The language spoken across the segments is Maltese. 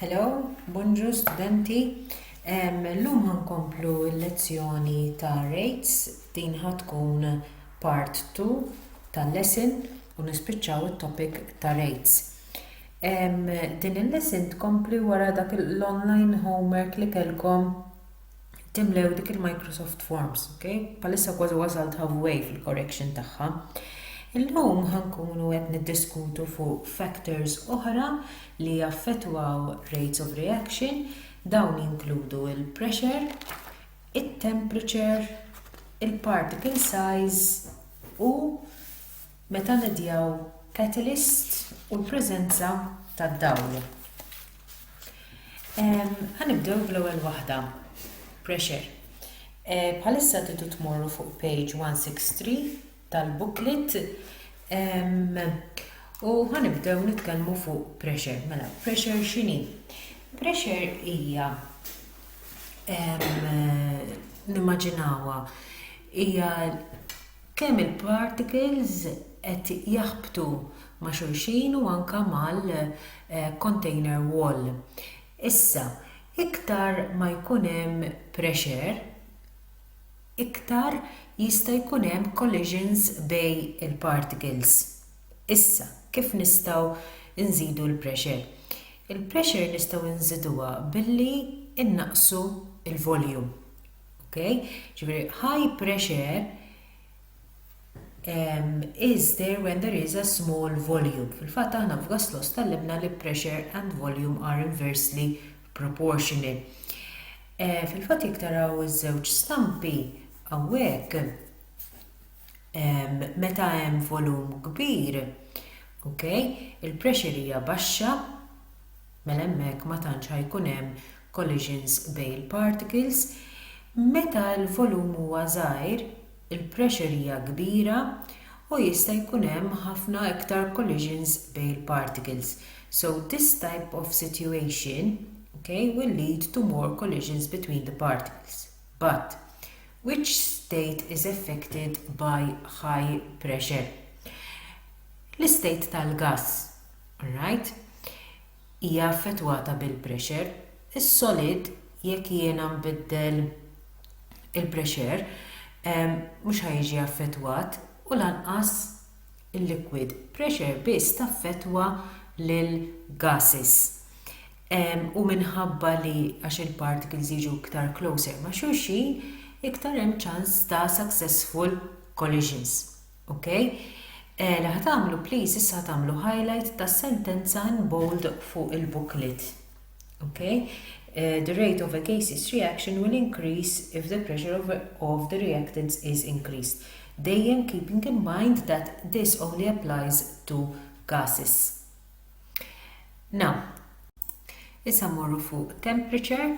Hello, bonġu studenti. L-lum ħankomplu l-lezzjoni ta' rates din ħatkun part 2 tal-lesson u nispiċċaw it-topic ta' rates. Din il-lesson tkompli wara dak l-online homework li kelkom timlew dik il-Microsoft Forms, ok? Palissa kważi wasalt halfway fil-correction tagħha. Illum ħankunu qed niddiskutu fuq factors oħra li jaffettwaw rates of reaction, dawn jinkludu il-pressure, it-temperature, il-particle size u meta medjaw catalyst u l-preżenza tad-dawl. Ħa nibdew bl-ewwel waħda, pressure. Bħalissa tidu tmorru fuq page 163 tal-booklet u ħa nibdew nitkellmu fuq pressure. Mela, pressure x'inhi? Pressure hija nimmaġinawha hija Kemm il-particles qed jaħbtu ma' xulxin u anke mal-container wall. Issa, iktar ma jkun hemm pressure, iktar jista' jkun hemm collisions bejn il-particles. Issa, kif nistgħu nżidu l-pressure? Il-pressure nistgħu nżiduha billi nnaqqsu l-volume. Ok? Ġifieri high pressure um, is there when there is a small volume. Fil-fatt aħna f'gas loss tallimna li pressure and volume are inversely proportional. Eh, fil-fatt jekk taraw iż-żewġ stampi hawnhekk meta hemm volum kbir, ok, il-pressure hija baxxa, mela hemmhekk ma tantx ħa jkun hemm collisions bejn il-particles, meta l-volum huwa żgħir, il-pressure hija kbira u jista' jkun hemm ħafna iktar collisions bejn il-particles, so this type of situation, ok, will lead to more collisions between the particles, but which state is affected by high pressure? L-istate tal-gass. Right. Hija affettwata bil-pressure. Is-solid jekk jiena nbiddel il-pressure mhux ħa jiġi affettwat u lanqas il-liquid. Pressure biss taffettwa lil gases. U minħabba li għax il-particles jiġu iktar closer ma' xulxin, iktar hemm ċans ta' successful collisions. Ok. Li ħa tagħmlu please issa ħa tagħmlu highlight tas-sentenza in bold fuq il-booklet. Ok. Eh, the rate of a case's reaction will increase if the pressure of, of the reactants is increased. Dejjem keeping in mind that this only applies to gases. Now, issa morru fuq temperature,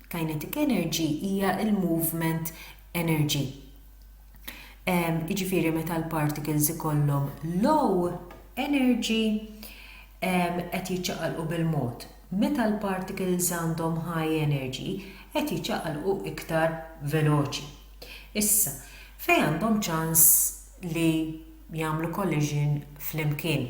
Kinetic energy hija l-movement energy. Jiġifieri meta l-particles ikollhom low energy qed jiċċaqalqu bil-mod. Meta l-particles għandhom high energy qed jiċċaqalqu iktar veloċi. Issa, fejn għandhom ċans li jagħmlu collision flimkien?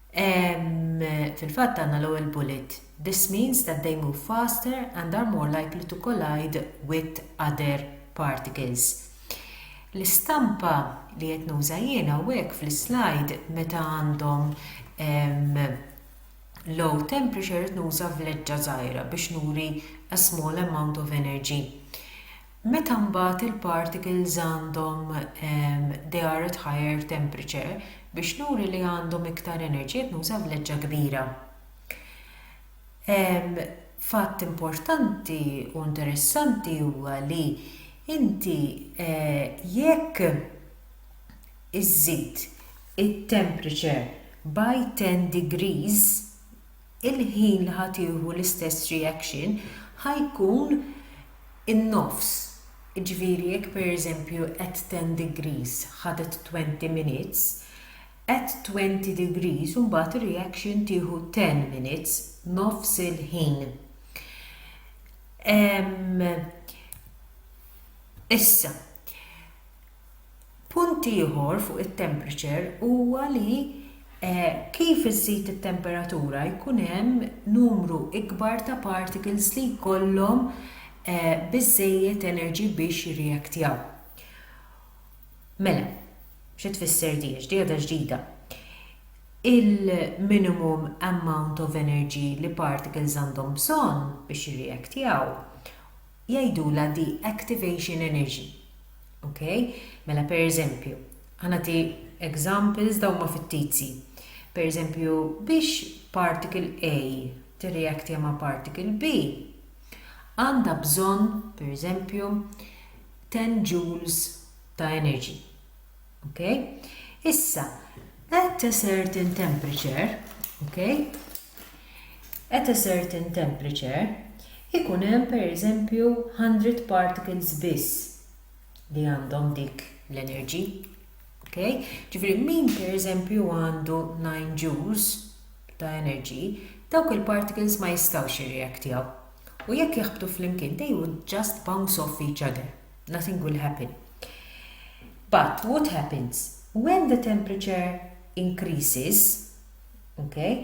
Fil-fatt għandna l-ewwel bullet, This means that they move faster and are more likely to collide with other particles. L-istampa li qed nuża jien hawnhekk fl-islajd meta għandhom low temperature qed nuża vleġġa żgħira biex nuri a small amount of energy. Meta mbagħad il-particles għandhom they are at higher temperature, biex nuri li għandhom iktar enerġija qed nuża vleġġa kbira. Fatt importanti u interessanti huwa li inti jekk iżżid it-temperature by ten degrees, il-ħin li ħa tieħu l-istess reaction ħa jkun in-nofs, jiġifieri jekk pereżempju at 10 degrees ħadet 20 minutes, at 20 degrees imbagħad ir-reaction tieħu 10 minutes, nofs il-ħin. Issa, Punt ieħor fuq it-temperature huwa li kif iżżid it-temperatura jkun hemm numru ikbar ta' particles li jkollhom biżżejjed energy biex jirreactjaw. Mela, xi tfisser din? X'diegħda ġdida? Il-minimum amount of energy li particles għandhom bżonn biex jirreactjaw jgħidulha de-activation energy. Ok? Mela per eżempju, ħa nagħti examples dawn huma fittizji. Per eżempju, biex particle A tirreactja ma' particle B, għandha bżonn, per eżempju, 10 joules ta' energy. Ok? Issa, at a certain temperature, ok? At a certain temperature ikun hemm per eżempju hundred particles biss li għandhom dik l-energy. Ok? Ġifieri min per eżempju għandu 9 joules ta' energy, dawk il-particles ma jistgħux jirreaktjaw. U jekk jaħbtu flimkien they would just bounce off each other. Nothing will happen. But what happens? When the temperature increases, Okej.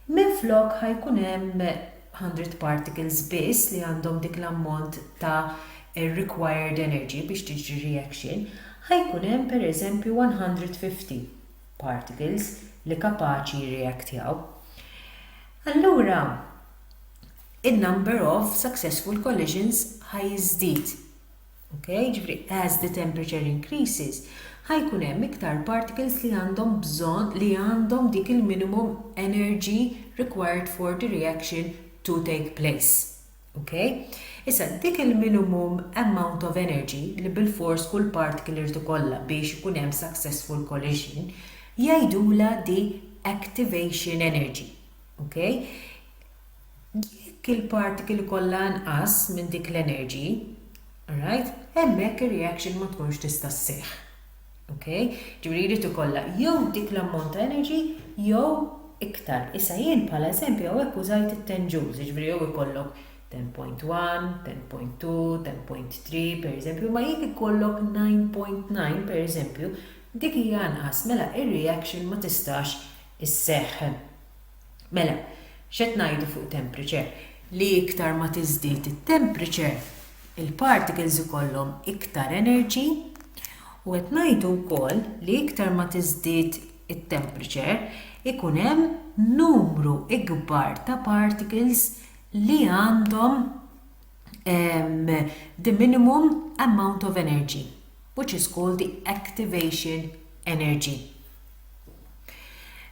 Minflok ħa jkun hemm hundred particles biss li għandhom dik l-ammont ta' required energy biex tiġri reaction, ħa jkun hemm pereżempju one hundred fifty particles li kapaċi jirreactjaw. Allura in-number of successful collisions ħa jiżdied. Okay? Ġifri, as the temperature increases, ħajkun hemm iktar particles li għandhom bżonn li għandhom dik il-minimum energy required for the reaction to take place. Okay? Issa, dik il-minimum amount of energy li bil-fors kull particle irid ikollha biex ikun hemm successful collision, jgħidula di activation energy. Okay? Jekk il-particle jkollha inqas minn dik l-energy, alright, hemmhekk ir-reaction ma tkunx tista' sseħħ. Ok? Ġifieri jrid ikollha jew dik l-ammont ta' energy jew iktar. Issa jien bħala eżempju hawnhekk użajt it-ten joules, jiġifieri jew ikollok ten point one, ten point two, ten point three, pereżempju, imma jekk ikollok nine point nine, pereżempju, dik hija inqas, mela ir-reaction ma tistax isseħħ. Mela, x'qed ngħidu fuq temperature? Li iktar ma tiżdied it-temperature, il-particles ikollhom iktar energy u qed ngħidu wkoll li iktar ma tiżdied it-temperature ikun hemm numru ikbar ta' particles li għandhom um, the minimum amount of energy, which is called the activation energy.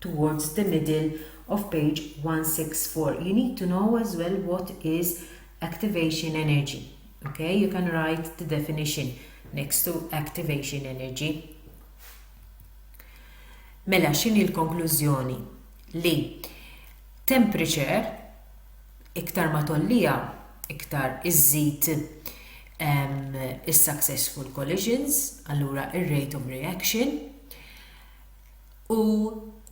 towards the middle of page 164 you need to know as well what is activation energy ok you can write the definition next to activation energy mela x'inhi l-konklużjoni li temperature iktar ma tollija iktar iżżid is-successful collisions allura ir-rate of reaction U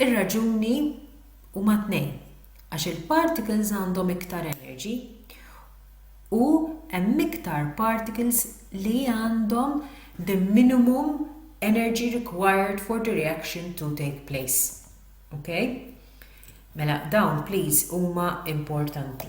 r-raġuni huma tnejn, għax il-particles għandhom iktar energy u hemm iktar particles li għandhom the minimum energy required for the reaction to take place. Okay? Mela dawn please huma importanti.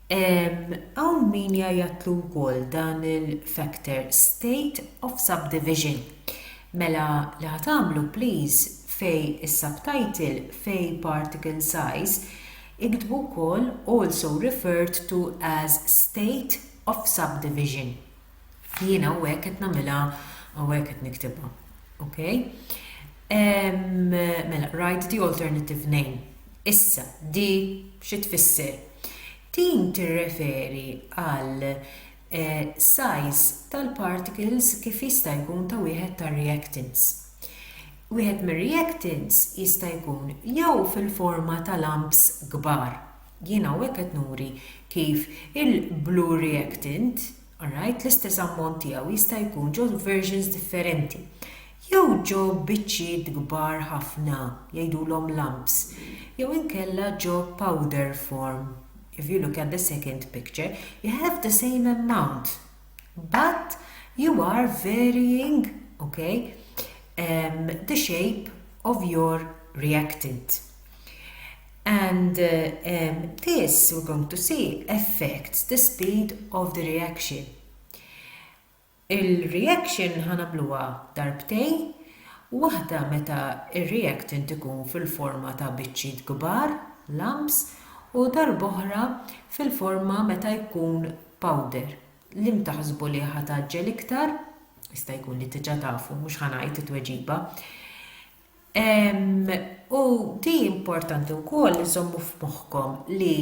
Hawn min jgħajjatlu wkoll dan il-factor state of subdivision. Mela li ħa tagħmlu please fej is-subtitle fej particle size iktbu wkoll also referred to as state of subdivision. Jiena hawnhekk qed nagħmilha hawnhekk qed niktibha. Okay? Um, mela, write the alternative name. Issa, di xi tfisser? Din tirreferi għal eh, size tal-particles kif jista' jkun ta' wieħed tar-reactants. Wieħed mir-reactants jista' jkun jew fil-forma ta' lamps kbar, Jien hawnhekk qed nuri kif il-blue reactant, alright, l-istess ammont tiegħu jista' jkun ġo versions differenti jew ġo biċċiet kbar ħafna jgħidulhom lumps jew inkella ġo powder form if you look at the second picture you have the same amount but you are varying okay um, the shape of your reactant. And this we're going to see affects the speed of the reaction. Il-reaction ħanamluha darbtejn, waħda meta ir-reactant ikun fil-forma ta' biċċiet kbar, lumps, u darb'oħra fil-forma meta jkun powder. Li mtaħsbu li ħataġġel iktar, jista' jkun li tiġa tafu, mhux ħanajt it-tweġiba. U di importanti wkoll li żommu f'moħħkom li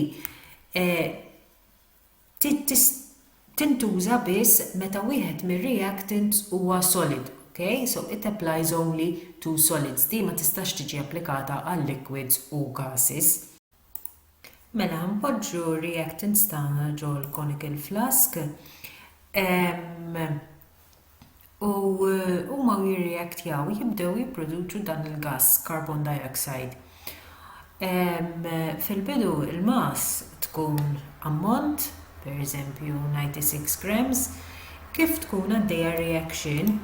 tintuża biss meta wieħed mir-reactants huwa solid, okay? So it applies only to solids. Di ma tistax tiġi applikata għal liquids u gases. Mela npoġġu reactants tagħna ġol conical flask u huma jirreactjaw jibdew jipproduċu dan il-gass carbon dioxide. Fil-bidu l-mass tkun ammont, per eżempju 96 grams, kif tkun għaddejja reaction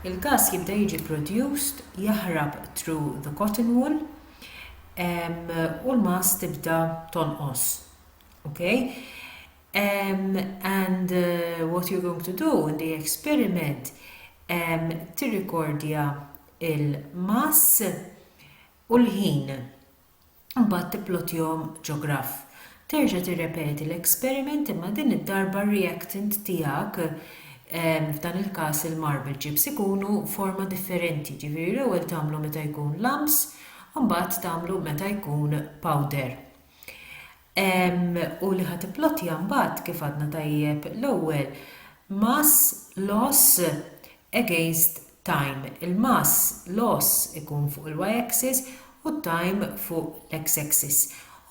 il-gass jibda jiġi produced jaħrab through the cotton wool, u l-mass tibda tonqos. Okay? Um, and uh, what you're going to do in the experiment, um, tirrikordja il-mass u l-ħin. Mbagħad tiplotjom ġo graff. Terġa' tirrepeti l-experiment imma din id-darba r-reactant tiegħek, f'dan il-każ il-marble chips, ikunu forma differenti, jiġifieri l-ewwel tagħmlu meta jkun lumps u mbagħad tagħmlu meta jkun powder. U li ħa tipplotja mbagħad kif għadna tajjeb l-ewwel mass loss against time, il-mass loss ikun fuq il-y-axis u t-time fuq l-x-axis.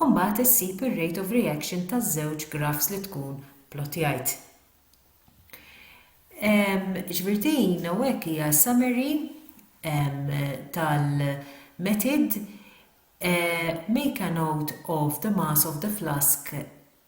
U mbagħad issib ir-rate of reaction taż-żewġ graphs li tkun plottjajt. Ġifieri din hawnhekk hija summary tal-method eh, make a note of the mass of the flask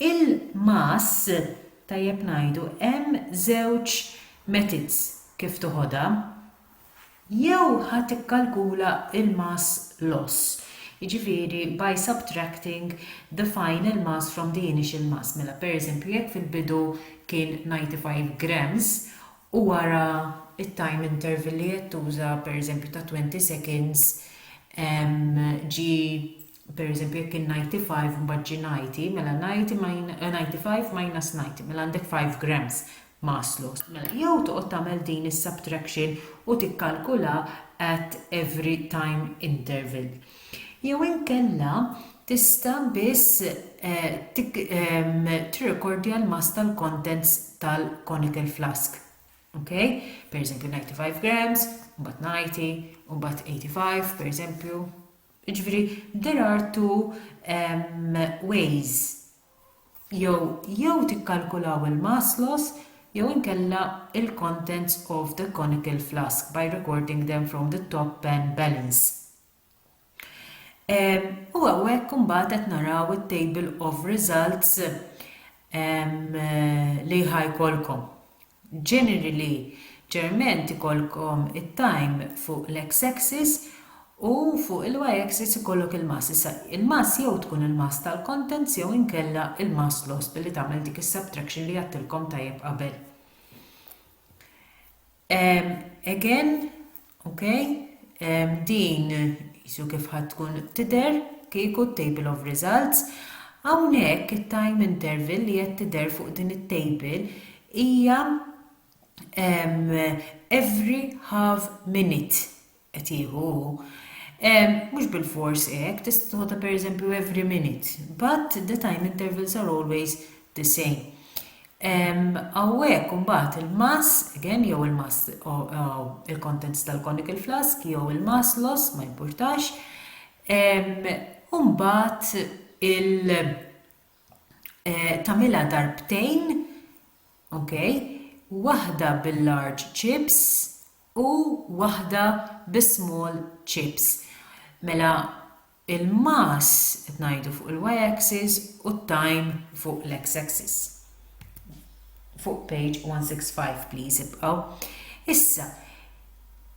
Il-mass, tajjeb ngħidu, hemm żewġ methods kif toħodha. Jew ħa tikkalkula l-mass loss, jiġifieri by subtracting the final mass from the initial mass. Mela pereżempju jekk fil-bidu kien 95 grams u wara t-time interval li qed tuża pereżempju ta' 20 seconds ġie Per eżempju, jekk kien ninety five mbagħad ġie ninety, mela ninety min, ninety five minus ninety, mela għandek five grams ma aslu. Mela, jew toqgħod tagħmel din is-subtraction u tikkalkula at every time interval. Jew inkella tista' biss tik, ehm, tirrekordja l-mass tal-contents tal-conical flask. Ok? Per eżempju, ninety five grams, mbagħad ninety, u mbagħad eighty five, per eżempju, Jiġifieri there are two ways, jew jew tikkalkulaw il-mass loss jew inkella il-contents of the conical flask by recording them from the top pan balance. U hawnhekk imbagħad qed naraw it-table of results li ħa jkollkom. Ġenerili ġerment ikollkom it-time fuq l-X axis u fuq il-Y axis ikollok il-mass. Issa il-mass jew tkun il-mass tal-contents jew inkella il-mass lost billi tagħmel dik is-subtraction li għedtilkom tajjeb qabel. Again Ok, din jisu kif ħad tkun tider kieku table of results. Hawnhekk it-time interval li qed tider fuq din it-table hija every half minute qed jieħu. Mhux bil-fors hekk, tista' tħodha pereżempju every minute, but the time intervals are always the same. Hawnhekk imbagħad il-mass, again, jew il-mass il-contents tal-conical flask jew il-mass loss ma jimpurtax. U mbagħad il eh, tamila darbtejn, ok, waħda bil-large chips u waħda bis-small chips. Mela il-mass qed ngħidu fuq il-y axis u t-time fuq l-x axis. Fuq page 165 please ibqgħu. Issa,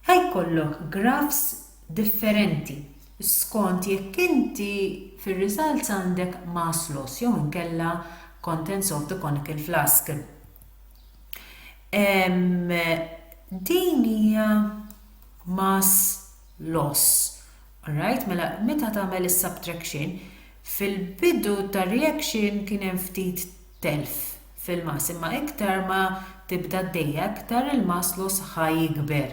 ħajkollok grafs differenti skont jekk inti fir-results għandek mass loss jew inkella contents of the conical flask. Din hija mass loss. Alright, mela meta tagħmel is-subtraction, fil-bidu tar-reaction kien hemm ftit telf fil-mass, imma iktar ma tibda d-dejja iktar il-mass loss ħa jikber.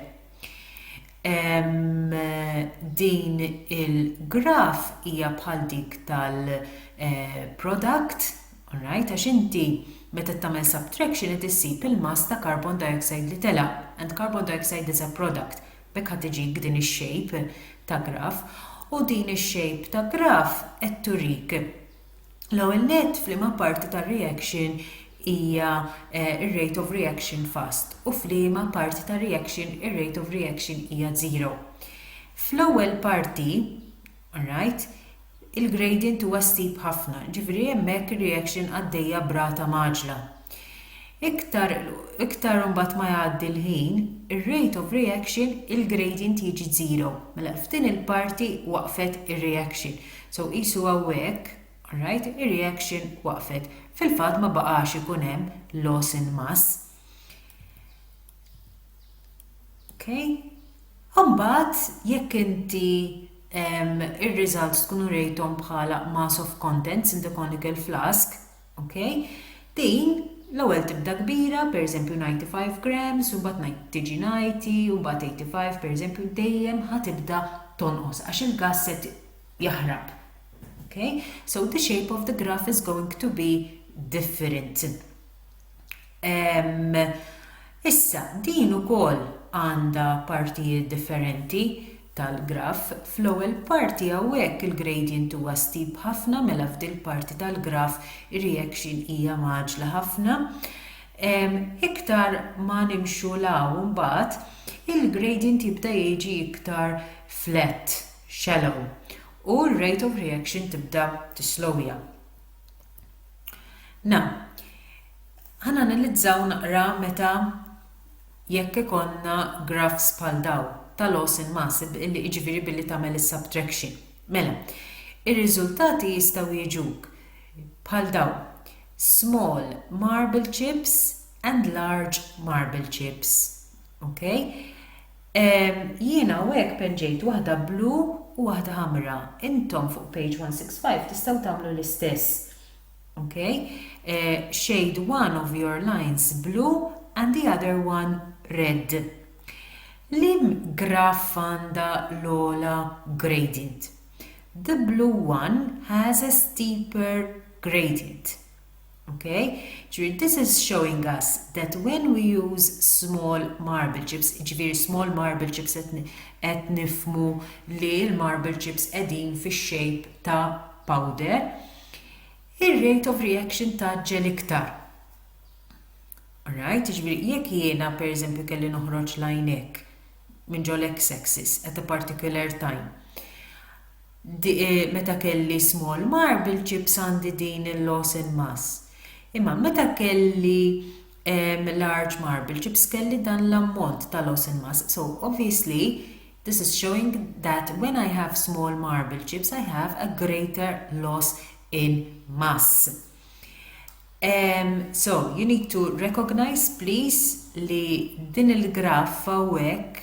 Din il-graf hija bħal dik tal-product, eh, alright, għax inti meta tagħmel subtraction qed issib il-mass ta' carbon dioxide li telaq, and carbon dioxide is a product, B'hekk ħa tiġik din ix-shape ta' graf. U din ix-shape ta' graf qed turik, l-ewwel nett, f'liema parti tar-reaction hija r-rate of reaction fast u f'liema parti tar-reaction ir-rate of reaction hija zero. Fl-ewwel parti, Alright. Il-gradient huwa steep ħafna, ġifieri hemmhekk ir-reaction għaddejja b'rata mgħaġġla. Iktar iktar imbagħad ma jgħaddi l-ħin, ir-rate of reaction, il-gradient jiġi zero. Mela f'din il-parti waqfet ir-reaction. So qisu hawnhekk, alright, ir-reaction waqfet. Fil-fatt ma baqax ikun hemm loss in mass. Okay. Umbat, jekk inti ir-results tkun urejtom bħala mass of contents in the conical flask, okay, din l-ewwel tibda kbira, per eżempju 95 grams, u mbagħad ngħid tiġi 90, u mbagħad 85, per eżempju dejjem ħatibda tonqos għax il-gas se jaħrab. Okay? So the shape of the graph is going to be different. Ehm, issa, din ukoll għandha partijiet differenti tal-graff. Fl-ewwel parti hawnhekk il-gradient huwa steep ħafna mela f'dil parti tal-graff ir-reaction hija maġla ħafna. Ehm, iktar ma nimxu law mbagħad il-gradient jibda jiġi iktar flat, shallow, u r-rate of reaction tibda tislowja. Na. Ħananalizzaw naqra meta jekk ikollna graphs bħal dawn ta' loss in mass, billi jiġifieri billi tagħmel is-subtraction. Mela, ir-riżultati jistgħu jiġuk bħal dawn, small marble chips and large marble chips. Okay? Jiena hawnhekk penġejt waħda blu u waħda ħamra. Intom fuq page 165 tistgħu tagħmlu l-istess. Ok? Shade one of your lines blue and the other one red. Liem graff għandha l-ogħla gradient? The blue one has a steeper gradient. Okay? Ġifieri this is showing us that when we use small marble chips, ġifieri small marble chips qed nifmu li l-marble chips qegħdin fix-shape ta' powder, ir-rate of reaction ta' ġel iktar. Alright, ġifieri jekk jiena pereżempju kelli noħroġ lajnek minn ġol x-axis at a particular time Meta kelli small marble chips għandi din il-loss in mass. Imma meta kelli large marble chips kelli dan l-ammont ta' loss in mass. So obviously this is showing that when I have small marble chips I have a greater loss in mass. Um, so you need to recognize please li din il-graf hawnhekk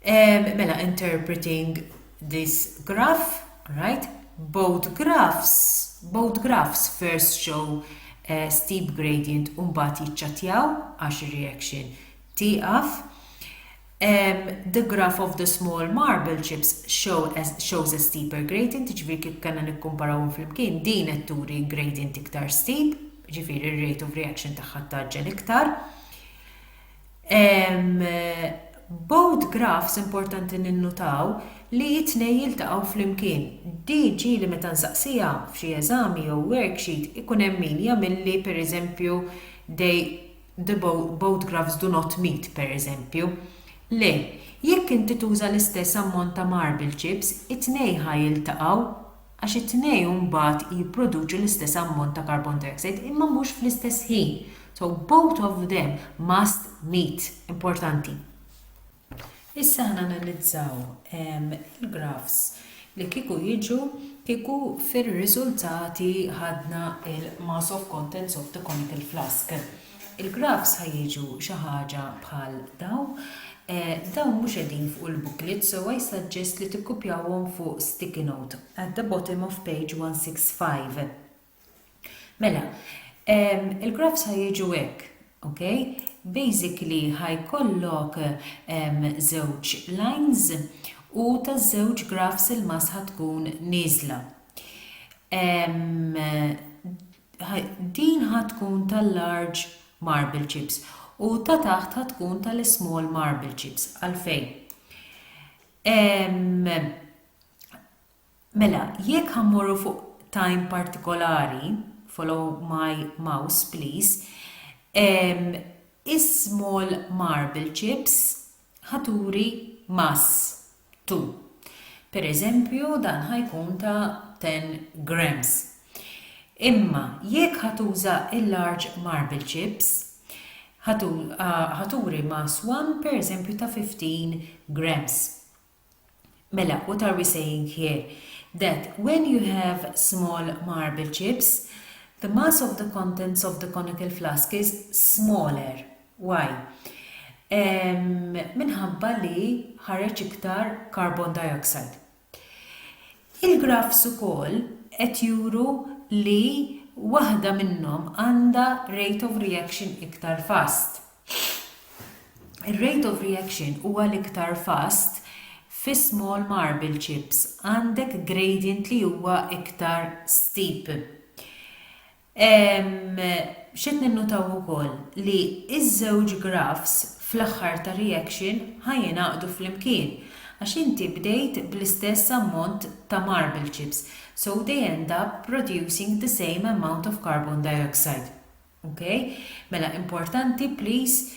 Ehm, mela interpreting this graph, right? Both graphs, both graphs first show uh, steep gradient u mbagħad jiċċatjaw għax reaction tieqaf. Um, the graph of the small marble chips show as, shows a steeper gradient, ġifiri kif kanna nikkumparaw fl-imkien, din qed turi gradient iktar steep, ġifiri rate of reaction tagħha taġġel iktar. Hemm bowed graphs importanti ninnutaw li t-tnejn jiltaqgħu flimkien. Dee ġieli meta nsaqsiha f'xi eżami jew worksheet ikun hemm min jagħmilli pereżempju they the bowed graphs do not meet pereżempju. Le, jekk inti tuża l-istess ammont ta' marble chips, it-tnejn ħa jiltaqgħu. għax it-tnejn mbagħad jipproduċu l-istess ammont ta' carbon dioxide imma mhux fl-istess ħin, so both of them must meet, importanti. Issa aħna analizzaw ehm, il-grafs li kieku jiġu kieku fir-riżultati ħadna il-mass of contents of the conical flask. Il-graphs ħa jiġu xi ħaġa bħal dawn. Dawn mhux qegħdin fuq il-booklet so I suggest li tikkupjawhom fuq sticky note at the bottom of page 165. Mela, il-graphs ħa jiġu hekk, ok? Basically ħa jkollok żewġ lines u ta' żewġ graphs il-mass ħa tkun nieżla. Din ħa tkun tal-large marble chips u ta' taħt ħa tkun tal-small marble chips. Għalfejn? Mela, jekk ħammorru fuq time partikolari, follow my mouse please, is-small marble chips ħaturi mass 2. Pereżempju dan ħa jkun ta' 10 grams. Imma jekk ħa tuża l-large marble chips, ħa turi mass 1 pereżempju ta' 15 grams. Mela, what are we saying here? That when you have small marble chips, the mass of the contents of the conical flask is smaller. Why? Minħabba li ħareġ iktar carbon dioxide. Il-graphs ukoll qed juru li waħda minnhom għandha rate of reaction iktar fast. Ir-rate of reaction huwa l-iktar fast fis-small marble chips, għandek gradient li huwa iktar steep. X'qed ninnutaw ukoll li ż-żewġ graphs fl-aħħar tar-reaction ħa jingħaqdu flimkien għax inti bdejt bl-istess ammont ta' marble chips so they end up producing the same amount of carbon dioxide. Ok? Mela importanti please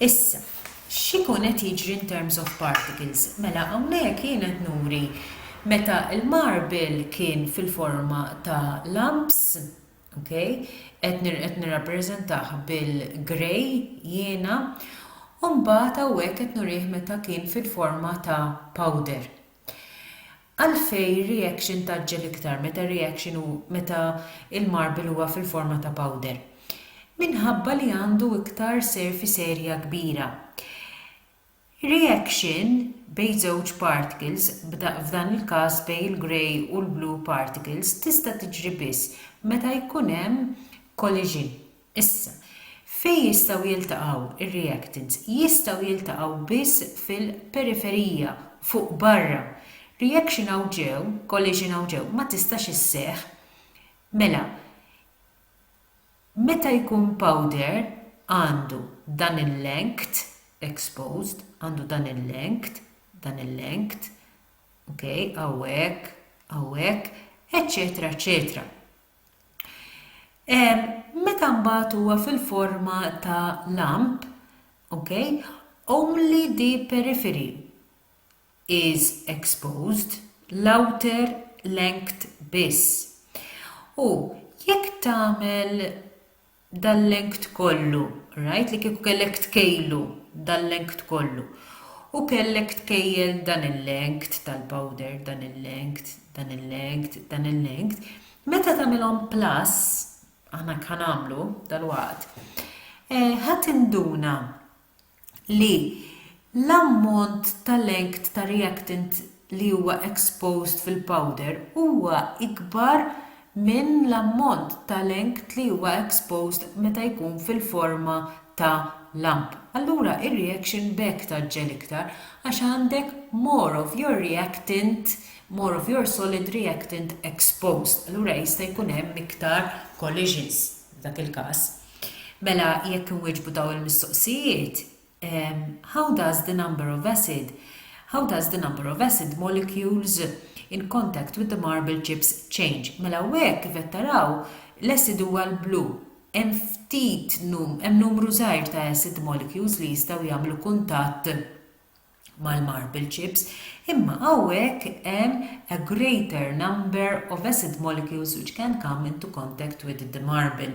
Issa, x'ikun qed jiġri in terms of particles? Mela hawnhekk jien qed nuri meta l-marble kien fil-forma ta' lumps, ok, qed qed nirrappreżentah bil-grey jiena, u mbagħad hawnhekk qed nurih meta kien fil-forma ta' powder. Għalfejn reaction tgħaġġel iktar meta reaction hu meta l-marble huwa fil-forma ta' powder? Minħabba li għandu iktar surface area kbira. Reaction bejn żewġ particles, f'dan il-każ bejn il-grey u l-blue particles, tista' tiġri biss meta jkun hemm collision. Issa, fejn jistgħu jiltaqgħu r-reactants? Jistgħu jiltaqgħu biss fil-periferija, fuq barra. Reaction hawn ġew, collision hawn ġew, ma tistax isseħħ. Mela, meta jkun powder għandu dan il-length, exposed, għandu dan il-length, dan il-length, ok, hawn hekk, hawn hekk, eċċetera eċċetera. Meta mbagħad huwa fil-forma ta' lamp, okay, only the periphery is exposed, l-outer length biss. U jekk tagħmel dal-length kollu, rajt li kieku kellek tkejlu dal-length kollu u kellek tkejjel dan il-length tal-powder, dan il-length, dan il-length, dan il-length, meta tagħmilhom plus, aħna hekk ħa nagħmlu dalwaqt, ħa tinduna li l-ammont ta' length ta' reactant li huwa exposed fil-powder huwa ikbar minn l-ammont ta' length li huwa exposed meta jkun fil-forma ta' lump, allura r-reaction b'hekk tgħaġġel iktar għax għandek more of your reactant, more of your solid reactant exposed, allura jista' jkun hemm iktar collisions. f'dak il-każ. Mela jekk inwieġbu dawn il-mistoqsijiet, How does the number of acid How does the number of acid molecules in contact with the marble chips change? Mela hawnhekk kif qed taraw l-acid huwa l-blu. Hemm ftit hemm numru żgħir ta' acid molecules li jistgħu jagħmlu kuntatt mal-marble chips, imma hawnhekk hemm a greater number of acid molecules which can come into contact with the marble.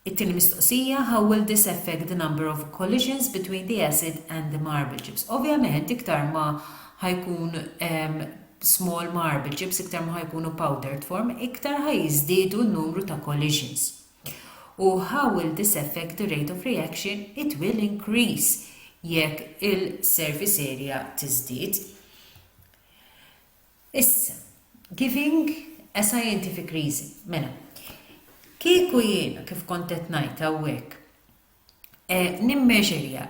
It-tieni mistoqsija, how will this affect the number of collisions between the acid and the marble chips? Ovvjament, iktar ma ħajkun hemm small marble chips, iktar ma ħajkunu powdered form, iktar ħajżdiedu n-numru ta' collisions. u how will this affect the rate of reaction, it will increase jekk il-surface area tiżdied. Issa, giving a scientific reason, mela, kieku jiena kif kont qed ngħid hawnhekk eh, nimmeġerja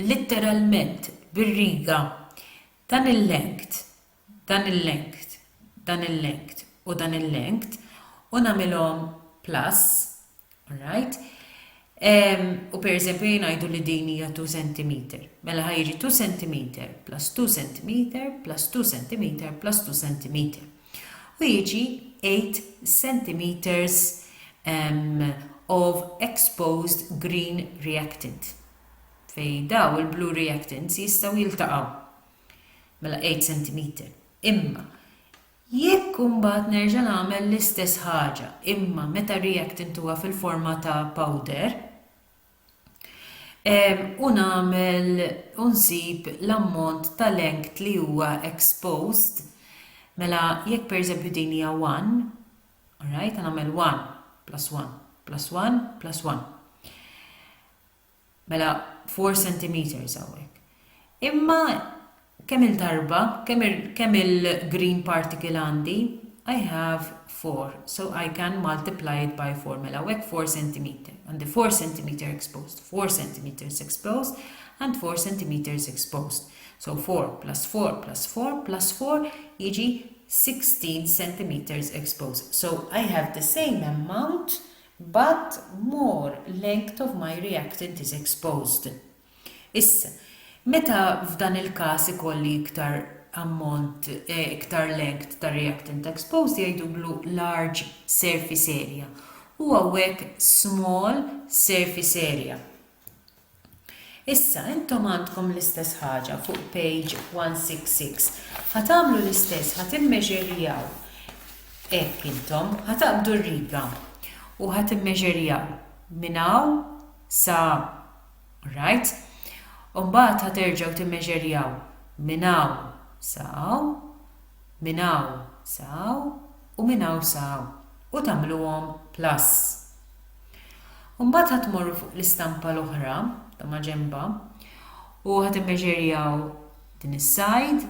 litteralment bir-riga dan il-length dan il-length, dan il-length u dan il-length u nagħmilhom plus, alright, u pereżempju jingħidu li din hija 2 sentimeter. Mela ħa jiġi 2 sentimeter plus 2 sentimeter plus 2 sentimeter plus 2 sentimeter. U jiġi 8 centimeters um, of exposed green reactant. Fej daw il-blue reactants jistaw jiltaqaw. Mela 8 centimeter. Imma jekk imbagħad nerġa' nagħmel l-istess ħaġa imma meta reactant huwa fil-forma ta' powder u nagħmel u nsib l-ammont ta' length li huwa exposed mela jekk pereżempju din hija 1 alright nagħmel 1 plus 1 plus 1 plus 1 Mela four centimetres hawnhekk. Imma kemm-il darba, kemm il-green particle għandi? I have four, so I can multiply it by four. Mela hawnhekk four centimetre. Għandi four centimetre exposed, four centimetres exposed, and four centimetres exposed. So four plus four plus four plus four jiġi 16 centimetres exposed. So I have the same amount But more length of my reactant is exposed. Issa, meta f'dan il-każ ikolli iktar ammont, iktar length ta' reactant exposed jgħidulu large surface area u hawnhekk small surface area. Issa, intom għandkom l-istess ħaġa fuq page 166. Ħa tagħmlu l-istess, ħa timmeġerjaw hekk intom, ħa taqbdu r-riga u ħa timmeġerjaw minn hawn sa hawn. Alright? U mbagħad ħa terġgħu timmeġerjaw minn hawn sa hawn, minn hawn sa hawn u minn hawn sa hawn u tagħmluhom plus. U mbagħad ħa tmorru fuq l-istampa l-oħra ta' maġenba u ħa timmeġerjaw din is-sajd,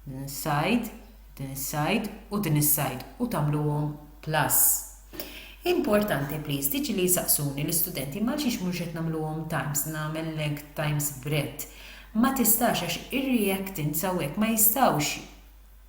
din is-sajd, din is-sajd u din is-sajd u tagħmluhom plus. Importanti please, tiġi li jsaqsuni l-istudenti ma għalxiex mhux qed nagħmluhom times, nagħmel length times breadth. Ma tistax għax ir-reactants hawnhekk ma jistgħux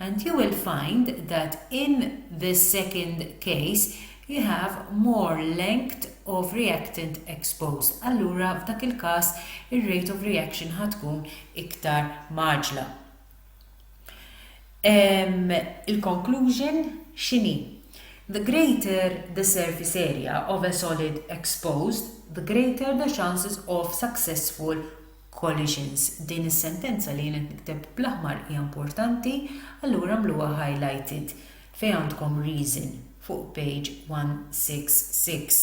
And you will find that in the second case you have more length of reactant exposed. Allura f'dak il-każ ir-rate of reaction ħa tkun iktar maġla. Um, Il-conclusion x'inhi? The greater the surface area of a solid exposed, the greater the chances of successful Collisions, Din is-sentenza li jien qed nikteb bl-aħmar hija importanti, allura għamluha highlighted fejn għandkom reason fuq page 166.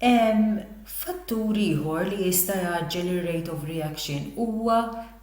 Ehm, fattur ieħor li jista' jgħaġġel ir-rate of reaction huwa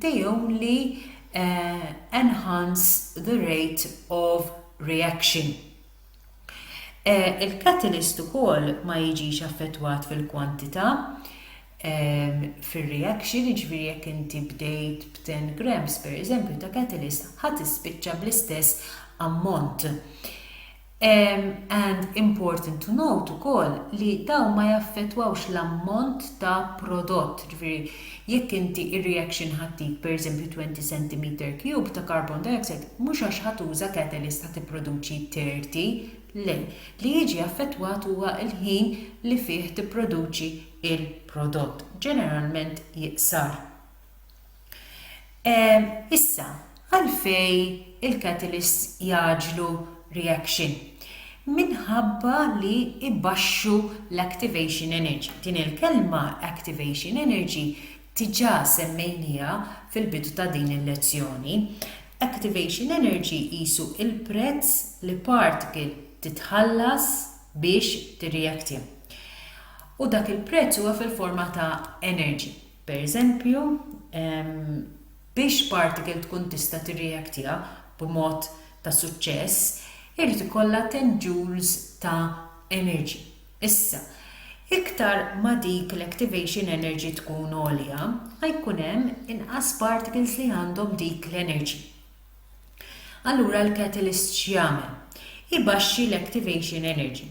they only enhance the rate of reaction. Il-catalyst ukoll ma jiġix affettwat fil-kwantità fir-reaction, jiġifieri jekk inti bdejt b'10 grams, pereżempju, ta' catalyst, ħa tispiċċa bl-istess ammont. And important to note ukoll li dawn ma jaffettwawx l-ammont ta' prodott, jiġifieri jekk inti r-reaction ħa ttik pereżempju 20 centimeter cube ta' carbon dioxide mhux għax ħa tuża catalyst ħa tipproduċi 30, le, li jiġi affettwat huwa l-ħin li fih tipproduċi l-prodott, ġeneralment iqsar. Issa, għalfejn il-catalysts jgħaġġlu reaction? Minħabba li jbaxxu l-activation energy. Din il-kelma activation energy diġà semmejnieha fil-bidu ta' din il-lezzjoni. Activation energy qisu l-prezz li particle titħallas biex tirreactja. U dak il-prezz huwa fil-forma ta' energy. Pereżempju, biex particle tkun tista' tirreaktja b'mod ta' suċċess, irid ikollha 10 joules ta' energy. Issa, iktar ma dik l-activation energy tkun għolja, ma jkun hemm inqas particles li għandhom dik l-energy. Allura l-catalyst x'jagħmel? Ibaxxi l-activation energy.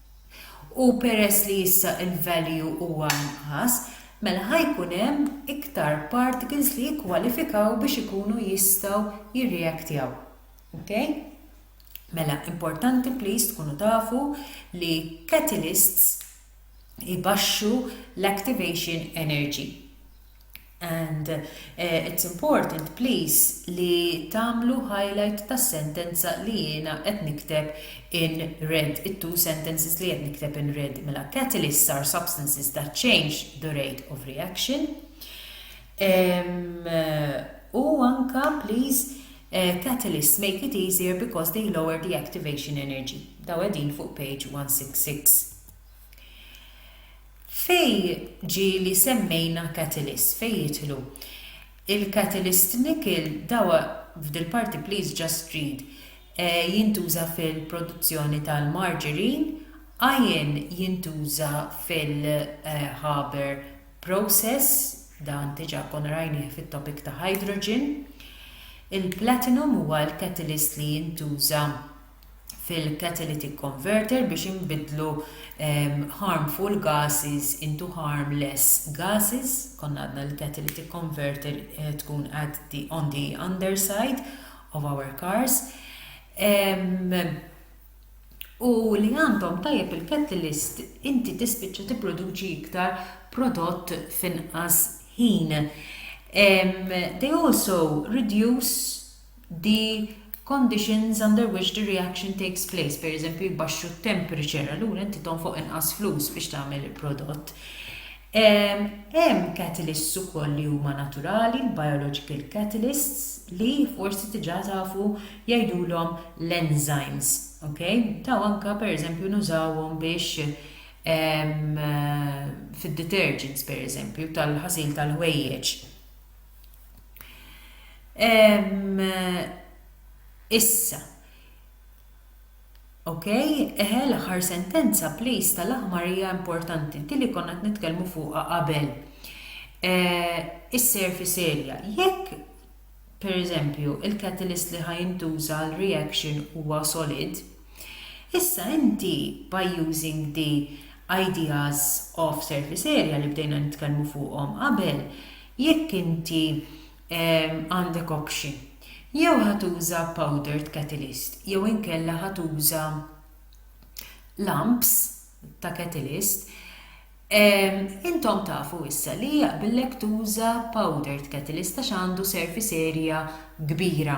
U peress li issa l-value huwa inqas, mela ħa jkun hemm iktar particles li jikkwalifikaw biex ikunu jistgħu jirreactjaw. Ok? Mela importanti please tkunu tafu li catalysts ibaxxu l-activation energy. And it's important please li tagħmlu highlight tas-sentenza li jiena qed nikteb in red, it-two sentences li qed nikteb in red. Mela catalysts are substances that change the rate of reaction. U anka please eh, catalysts make it easier because they lower the activation energy. Daw qegħdin fuq page 166. Fejn ġie li semmejna catalysts? Fejn jidħlu? Il-catalyst nickel, dawa f'dil-parti please just read, jintuża fil-produzzjoni tal-margarine, iron jintuża fil-Haber process, dan diġà konna rajnieh fit-topic ta' hydrogen, il-platinum huwa l-catalyst li jintuża fil-catalytic converter biex inbiddlu harmful gases into harmless gases konna għadna li l-catalytic converter tkun at the on the underside of our cars u li għandhom tajjeb il-catalyst inti tispiċċa tipproduċi iktar prodott f'inqas ħin. Um, they also reduce the conditions under which the reaction takes place, per eżempju jbaxxu t-temperature, allura inti tonfoq inqas flus biex tagħmel il-prodott. Hemm catalysts ukoll li huma naturali, l-biological catalysts, li forsi diġà tafu jgħidulhom l-enzymes, ok? Taw anka per eżempju nużawhom biex fid-detergents per eżempju tal-ħasil tal-ħwejjeġ. Ehm, issa. Ok, eħe l-aħħar sentenza please tal-aħmar hija importanti, di li konna qed nitkellmu fuqha qabel. Eh, Is-surface area. Jekk per eżempju, il-catalyst li ħajintuża l-reaction huwa solid, Issa inti by using the ideas of surface area li bdejna nitkellmu fuqhom qabel, jekk inti għandek option, jew ħa tuża powdered catalyst jew inkella ħa tuża lumps ta' catalyst, intom tafu issa li jaqbillek tuża powdered catalyst għax għandu surface area kbira.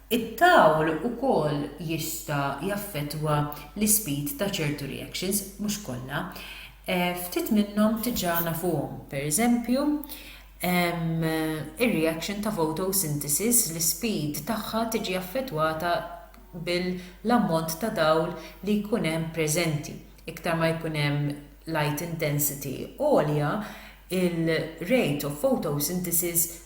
It-tawl ukoll jista' jaffettwa l-ispeed ta' ċertu reactions, mhux kollha. Ftit minnhom diġà nafuhom, pereżempju, ir-reaction ta' photosynthesis l-ispeed tagħha tiġi affettwata bil-ammont ta' dawl li jkun hemm preżenti. Iktar ma jkun hemm light intensity għolja, il-rate of photosynthesis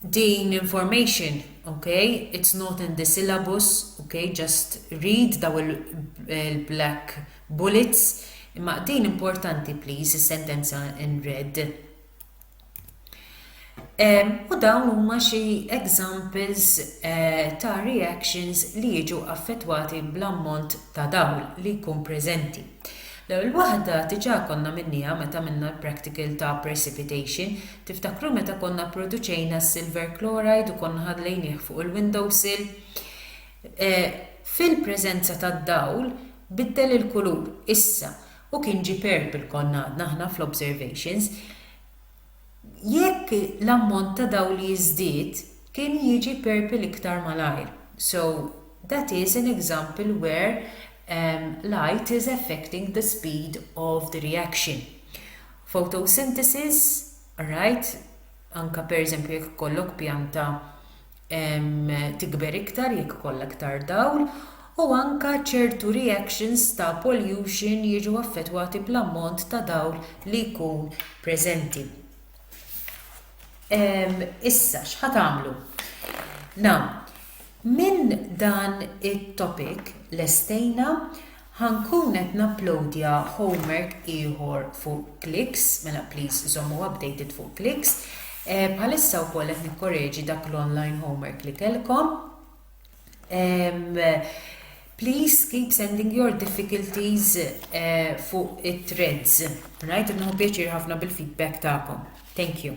Din l-information, ok, it's not in the syllabus, ok, just read daw il-black bullets, imma din importanti please is-sentenza in red. Um, u dawn huma xi examples uh, ta' reactions li jiġu affettwati bl-ammont ta' dawl li jkun preżenti. L-ewwel waħda diġà konna minniha meta għamilna l-practical ta' precipitation. Tiftakru meta konna pproduċejna s-silver chloride u konna ħallejnieh fuq il-window sill? Fil-preżenza tad-dawl biddel il-kulur, issa, u kien ġie purple konna għadna aħna fl-observations. jekk l-ammont ta' dawl li jiżdied kien jiġi purple iktar malajr, so that is an example where light is affecting the speed of the reaction. Photosynthesis, right, anke pereżempju jekk ikollok pjanta tikber iktar jekk ikollha iktar dawl u anke ċertu reactions ta' pollution jiġu affettwati bl-ammont ta' dawl li jkun preżenti. Issa x'ħa tagħmlu? Now, minn dan it-topic lestejna Ħa nkun qed napplowdja homework ieħor fuq Qlix, mela please żommu updated fuq Qlix. Bħalissa wkoll qed nikkoreġi dak l-online homework li kellkom. Please keep sending your difficulties fuq it-threads. Right, qed nieħu pjaċir ħafna bil-feedback tagħkom. Thank you.